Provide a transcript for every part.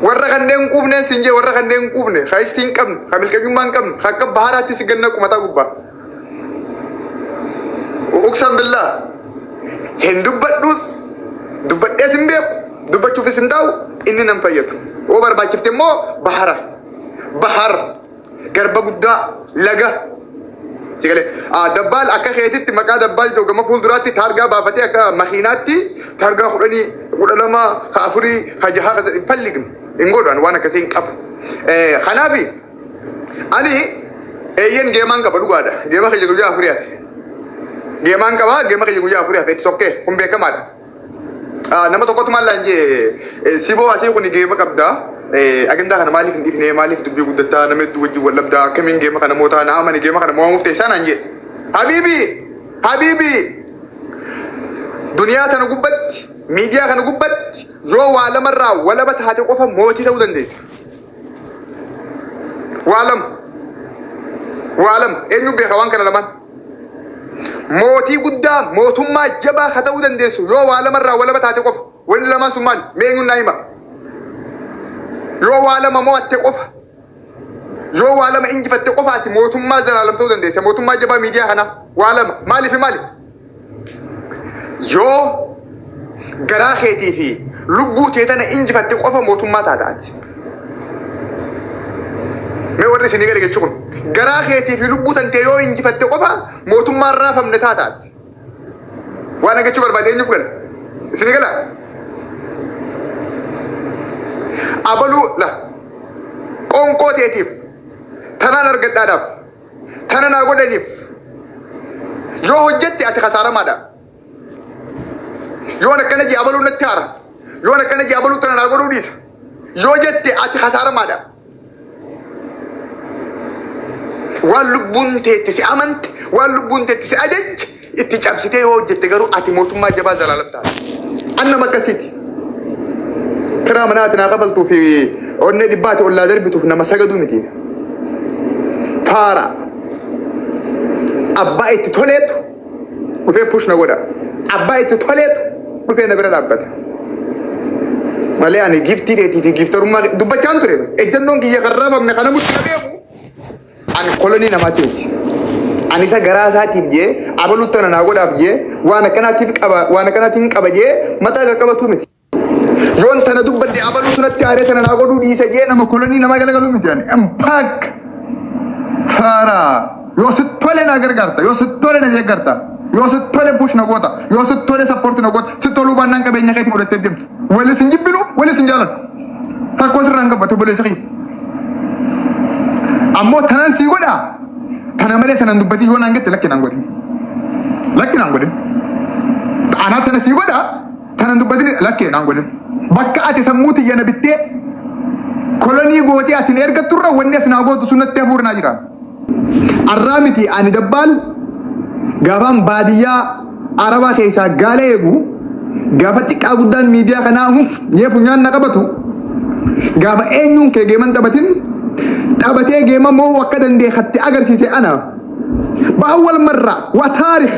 warra kanneen hin quufne siin jee warra kanneen hin quufne ka istii hin qabne ka milqanyummaa hin qabne ka akka baharaatti si ganna qumataa gubbaa uqsan billaa hin dubbadhuus dubbadhees hin beeku dubbachuufis hin taa'u inni nan fayyadu yoo barbaachifte immoo bahara bahar garba guddaa laga si galee Ah, dabbaal akka keetitti maqaa dabbaal jedhu gama fuulduraatti taargaa baafatee akka makiinaatti taargaa kudhanii kudha lama ka afurii ka jahaa ka sadii hin fallignu hin godhan waan akkasii hin qabu Eh, kanaafi ani eeyyen geemaan qaba dhugaadha geema kiyya guyyaa afurii hafe geemaan qaba geema kiyya guyyaa afurii hafe itti sokkee kun beekamaadha Ah, nama tokkotu maal laan jee siboo atii kun geema qabda Eh, agandaa kana maaliif hin dhifne maaliif dubbii guddattaa nama hedduu wajjin wal dhabdaa akkamiin geema kana mootaa na amani geema kana moo'amuuf teessaa naan jee habiibi habiibi duniyaa kana gubbatti miidiyaa kana gubbatti yoo waa lamarraa walaba taate qofa mootii ta'uu dandeessa waa lama waa lama eenyu beeka waan kana lamaan Mootii guddaa mootummaa jabaa ka ta'uu dandeessu yoo waa lama irraa walaba taate qofa. Wanni lamaan sun maali? Mee eenyuun naa hima? Yoo waa lama mo'atte qofa. Yoo waa lama injifatte qofaati mootummaa zalaalam ta'uu dandeessa. Mootummaa jabaa miidiyaa kanaa waa lama. Maaliif maali? Yoo garaa keetii fi lubbuu tee tana injifatte qofa mootummaa taata ati. Mee warri isin gadi jechuun kun garaa keetii fi lubbuu tantee yoo injifatte qofa mootummaan raafamne taata ati. Waan hagachuu barbaade eenyuuf gala? Isin gala? Abaluu la qoonqoo teetiif tanaan argadhaadhaaf Kana naa godhaniif yoo hojjette ati kasaaramaadha. Yoon akkana jee abaluu natti haara. Yoon akkana jee abaluu tana naa godhuu dhiisa. Yoo jette ati kasaaramaadha. Waan lubbuun teetti si amante, waan lubbuun teetti si ajajje Itti cabsitee yoo hojjette garuu ati mootummaa jabaa zalaalam taata. An nama akkasiiti. Kiraa manaa ati naa kafaltuu fi onnee dhibbaa ati ollaa darbituuf nama sagaduu miti. Faara. Abbaa itti toleetu dhufee push na godha. Abbaa itti toleetu dhufee na bira dhaabbata. Malee ani giftii dheetii fi giftarummaa dubbachaan ture. Ejjannoon kiyya kan raafamne kana mutti na beeku. An kolonii namaatti miti. An isa garaa isaatiif jee abalutti ana naa godhaaf jee waan akkanaatiif qaba waan akkanaatiin qaba jee mataa qaqqabatu miti. Yoon tana dubbadde abaluutu natti aaree tana naa godhuu dhiisa jee nama kolonii namaa galagalu miti. Ani impaak faara yoo si tole naa gargaarta yoo si tole na deeggarta yoo si tole push na goota yoo si tole sappoorti na goota si toluu baannaan qabeenya keetii fudhattee deemta. Walis hin jibbinu, walis hin jaalannu. Rakkoo sirraa hin qabu ati obboleessa kiyya. Ammoo tanan sii godhaa tana malee tanan dubbatii yoo naan jette lakki naan godhin. Lakki naan godhin. Anaa tana sii godhaa tanan dubbatii lakki naan godhin. Bakka ati sammuu tiyya na bittee kolonii gootee ati na ergatturra wanni ati naa gootu sun natti hafuura naa jira. Arraa miti ani dabbaal gaafaan baadiyyaa arabaa keessaa gaala eegu gaafa xiqqaa guddaan miidiyaa kanaa huf jee funyaan na qabatu gaafa eenyuun kee geeman taphatin taphatee geema moo akka dandee hatti agarsiise ana baawwal marra waa taarikh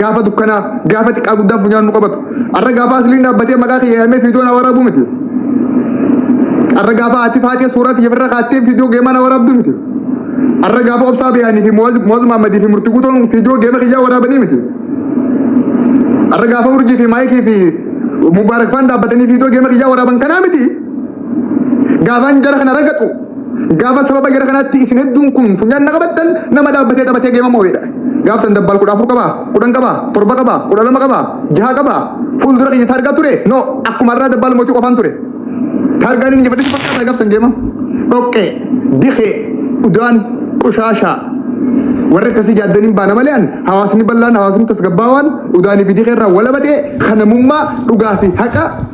Gaafa dukkanaa, gaafa xiqqaa guddaa funyaan nu qabatu. Arra gaafa asliin dhaabbatee maqaa kiyya yaamee fiidoo na waraabuu miti. Arra gaafa ati faatee suuraa tiyya irra kaattee fiidoo geemaa na waraabduu miti. Arra gaafa obsaa bayaanii fi Muwaaz Maammadii fi Murtii Guutoon fiidoo geema kiyyaa waraabanii miti. Arra gaafa urjii fi maayikii fi Mubaarak faan dhaabbatanii fiidoo geema kiyyaa waraaban kanaa miti. Gaafaan jara kana ragaxu gaafa sababa jara kanaatti isin hedduun kun funyaan na qabattan nama dhaabbatee taphatee geema moo'edha. Gaaf san dabbaal kudha afur qabaa, kudhan qabaa, torba qabaa, kudha lama qabaa, jaha qabaa. Fuuldura kiyya taargaa ture? No, akkuma irraa dabbaal mootii qofaan ture. Taargaan inni jabadhisi fakkaataa gaaf san geema. Dhoqqee, dikee, udaan, qushaashaa. Warri akkasii jaaddaniin baana malee an hawaasni bal'aan hawaasni tasgabbaawaan udaanii fi dikee irraa walabatee kanamummaa dhugaa fi haqa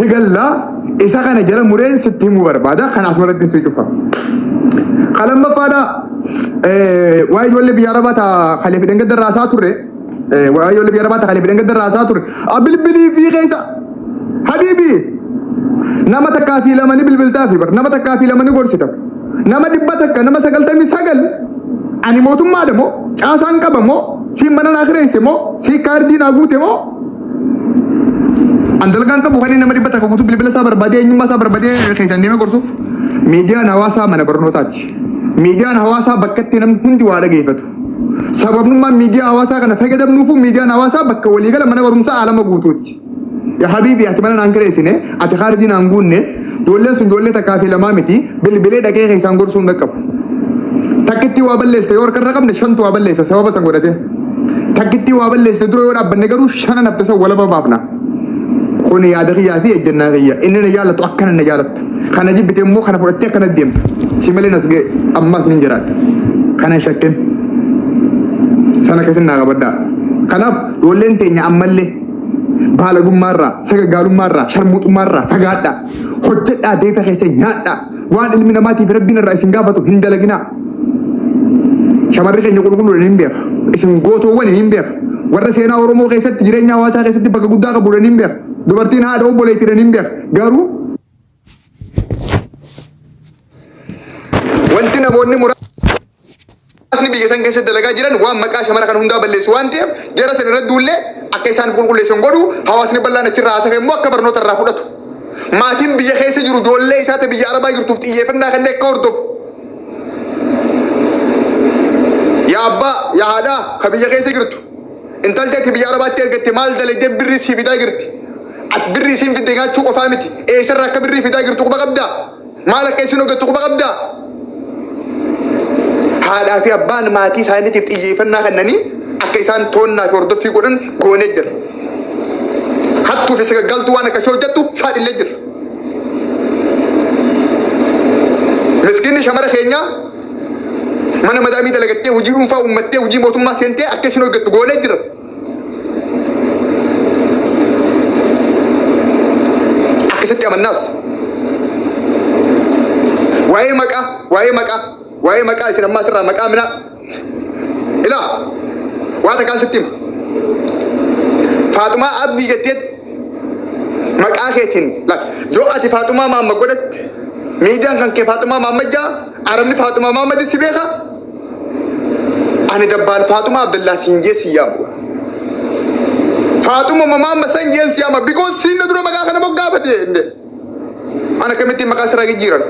higallaa isa kana jala mureen sitti himuu barbaada kan asmaratti si cufa. Kan lammaffaadha waa'ee ijoollee biyya arabaa taa kalee fidhan gadda raasaa turre waa'ee ijoollee biyya arabaa taa kalee fidhan gadda raasaa turre bilbilii fi keessa habiibi nama takkaa fi lama ni bilbiltaa fi bar nama takkaa fi lama ni gorsita nama dhibba takka nama sagaltamii sagal ani mootummaadha moo caasaan qaba moo siin mana naa kireesse moo siin kaardii naa guute moo An dalgaan qabu kan inni nama dhibba takka guutuu bilbila isaa barbaadee eenyummaa isaa barbaadee keessan deemee gorsuuf miidiyaan hawaasaa mana barnootaati. Miidiyaan hawaasaa bakka itti namni hundi waa dhageeffatu. Sababnummaan miidiyaa hawaasaa kana fayyadamnuufu miidiyaan hawaasaa bakka waliigala mana barumsaa alama guutuuti. Yaa habiibi ati mana naan kireessine ati kaardii naan guunne Ijoolleen sun ijoollee takkaa fi lamaa miti bilbilee dhaqee keessaan gorsuu hin dhaqqabu. Takkittii waa balleessite yoo harkarra qabne shantu waa balleessa sababa san godhatee. Takkittii waa balleessite dura yoo dhaabbanne garuu shanan hafte san walaba baafna. Kun yaada kiyyaa fi ejjennaa kiyya. Inni na jaalatu akkana na jaalatta. Kana jibbite immoo kana fudhattee akkana deemta. Si malee nas ga'e ammas ni jiraadha. Kana hin shakkin. Sana keessin naa qabaddaa. Kanaaf ijoolleen teenya ammallee baalagummaarraa, sagagaalummaarraa, sharmuuxummaarraa fagaadhaa. Hojjedhaa deeta keessa nyaadhaa. Waan ilmi namaatiif rabbiin irraa isin gaafatu hin dalaginaa. Shamarri keenya qulqulluudhaan hin beeka. Isin gootoowwan hin beeka. Warra seenaa Oromoo keessatti jireenya hawaasaa keessatti bakka guddaa qabuudhaan hin beeka. Dubartiin haadha obboleettiidhaan hin beeka. Garuu Wanti namoonni muraasni biyya san keessa dalagaa jiran waan maqaa shamara kan hundaa balleessu waan ta'eef jara san irra duullee akka isaan qulqulleessan godhu hawaasni bal'aan achirraa haasa'e immoo akka barnoota irraa fudhatu. Maatiin biyya keessa jiru ijoollee isaa ta'e biyya arabaa jirtuuf xiyyeeffannaa kanneen akka hordofu. Yaa abbaa yaa haadhaa ka biyya keessa jirtu Intal teeti biyya arabaatti ergatte maal dalagdee birrii sii fidaa jirti. At birrii isiin fidde nyaachuu qofaa miti. Eessarra akka birrii fidaa jirtu quba qabdaa? Maal akka isin hojjettu quba qabdaa? Haadhaa fi abbaan maatii isaaniitiif xiyyeeffannaa kennanii akka isaan toonnaa fi hordoffii godhan goonee jira. Hattuu fi sagaggaaltuu waan akkasii hojjettu saaxilee jira. Miskiinni shamara keenyaa Mana madaamii dalagattee hojii dhuunfaa uummattee hojii mootummaa seentee akka isin hojjettu goonee jira. Akkasitti amannaas. Waa'ee maqaa, waa'ee maqaa, waa'ee maqaa isin ammaa sirraa maqaa minaa. Ilaa, waa takkaan sitti hima. Faaxumaa Abdii jettee maqaa keetiin lak- yoo ati faaxumaa maamma godhatte miidiyaan kan kee faaxumaa maamma jaa arabni faaxumaa maamma si beeka ani dabbaal faaxumaa abdallaa siin jee si yaamu faaxuma maamma san jeen si yaama bikoos siin na dura maqaa kana moggaafate jenne An akkamittiin maqaa sirraa jijjiiran?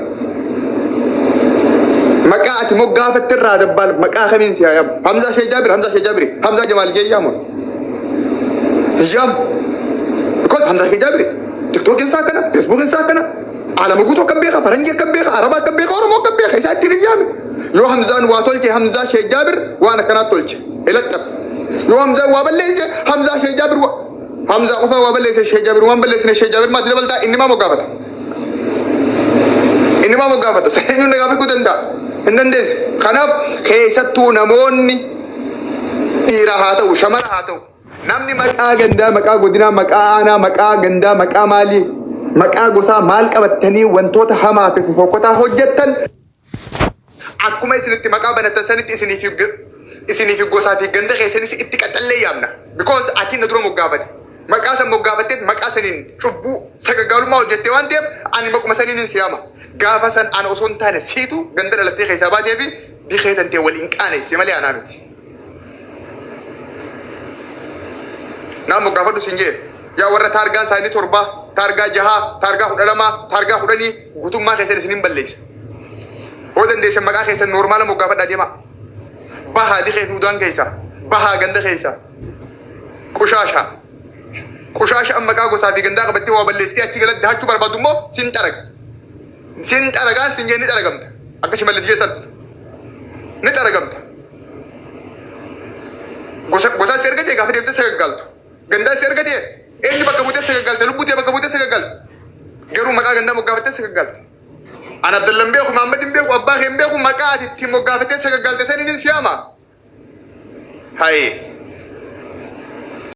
Maqaa ati moggaafatte irraa dabbaal maqaa kamiin si hayamu? Hamzaa Shee Jaabir, Hamzaa Shee Jaabir, Hamzaa Jamaal Shee Yaamu. Yaamu. Because Hamzaa Shee Jaabir, TikTok isaa kana, Facebook isaa kana, alama guutuu akka beeka, faranjii akka beeka, araba akka beeka, oromoo akka beeka, isaa ittiin hin yaame. Yoo Hamzaan waa tolche, Hamzaa Shee Jaabir waan akkanaa tolche. Ilaxxaf. Yoo Hamzaan waa balleesse, Hamzaa Shee Jaabir waa... Hamzaa qofaa waa balleesse Sheekh Jaabir waan balleessine Sheekh Jaabir maatti dabaltaa inni maa moggaafata. Inni maa moggaafata. Seenyuun nagaa beekuu danda'a. Hin dandeessu. Kanaaf keessattuu namoonni dhiira haa ta'u shamara haa ta'u namni maqaa gandaa maqaa godinaa maqaa aanaa maqaa gandaa maqaa maalii maqaa gosaa maal qabattanii wantoota hamaa fi fofokkotaa hojjettan Akkuma isin itti maqaa banatan sanitti isinii fi isinii fi gosaa fi ganda keessanis itti qaxallee yaamna. Because ati na dura moggaafate. Maqaa san moggaafatteet maqaa saniin cubbuu sagagaalummaa hojjettee waan ta'eef ani maquma saniin hin siyaama. Gaafa san ana osoo hin taane siitu ganda dhalattee keessaa baatee fi dikee tantee waliin qaaneesse malee anaa miti. Naan moggaafadhu siin jee. Yaa warra taargaan isaanii torbaa, taargaa jahaa, taargaa kudha lamaa, taargaa kudhanii guutummaa keessan isin hin balleessa. Hoo dandeessan maqaa keessan noormaala moggaafadhaa deemaa. Bahaa dikee duudaan keessa, bahaa ganda keessa, qushaashaa. Qushaasha amma maqaa gosaa fi gandaa qabattee waa balleessitee achi galatti dahachuu barbaadu immoo sin xaraga. Sin xaragaan sin jee ni xaragamta. Akka shimallis jee san ni xaragamta. Gosa gosaa si argatee gaafa deemtee sagaggaaltu. Gandaa si argatee eenyu bakka buutee sagaggaalta lubbuu tee bakka buutee sagaggaalta. Garuu maqaa gandaa moggaafattee sagaggaalta. An Abdallan beeku Mahammad hin beeku abbaa kee hin beeku maqaa ati ittiin moggaafattee sagaggaalta saniin hin siyaama. Hayee.